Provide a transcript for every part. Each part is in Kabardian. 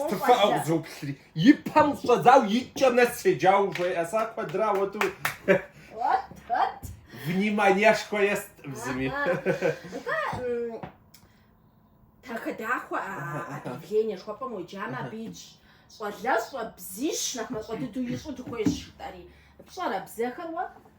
Стыфаӏэ къызоплъри. И пэм щыщӏэдзауэ икӏэм нэс седжауэ жеӏэ са куэдра уэту. Вот. Вниманиешхуэ естӏым зыми. Дахэ-дахэу объявление жыхуэпӏэм уеджамэ абы итщ щӏалэщӏэ бзищ нэхъ мащӏэ дыдэу ищӏу дыхуейщ жытӏэри. Пщӏэрэ бзэхэр уэ?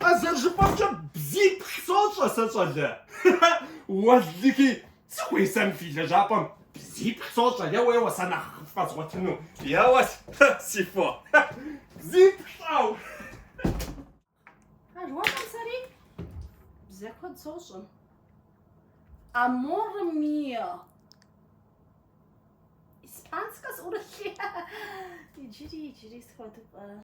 А зэрыжыпӏэмкӏэ бзиплӏ сощӏэ сэ, щӏалэ. Уэллыхи, сыхуейщ сэ мы фи лэжьапӏэм бзиплӏ сощӏэ, еуэ-еуэ сэ нэхъыфӏ згъуэтыну. Еуэ, си фо, бзиплӏ пщӏэу. Аргуэркъым сэри бзэ куэд сощӏэ. Аморе мио. Испанскэ сӏурылъи. Иджыри, иджыри схуэдыпӏэ.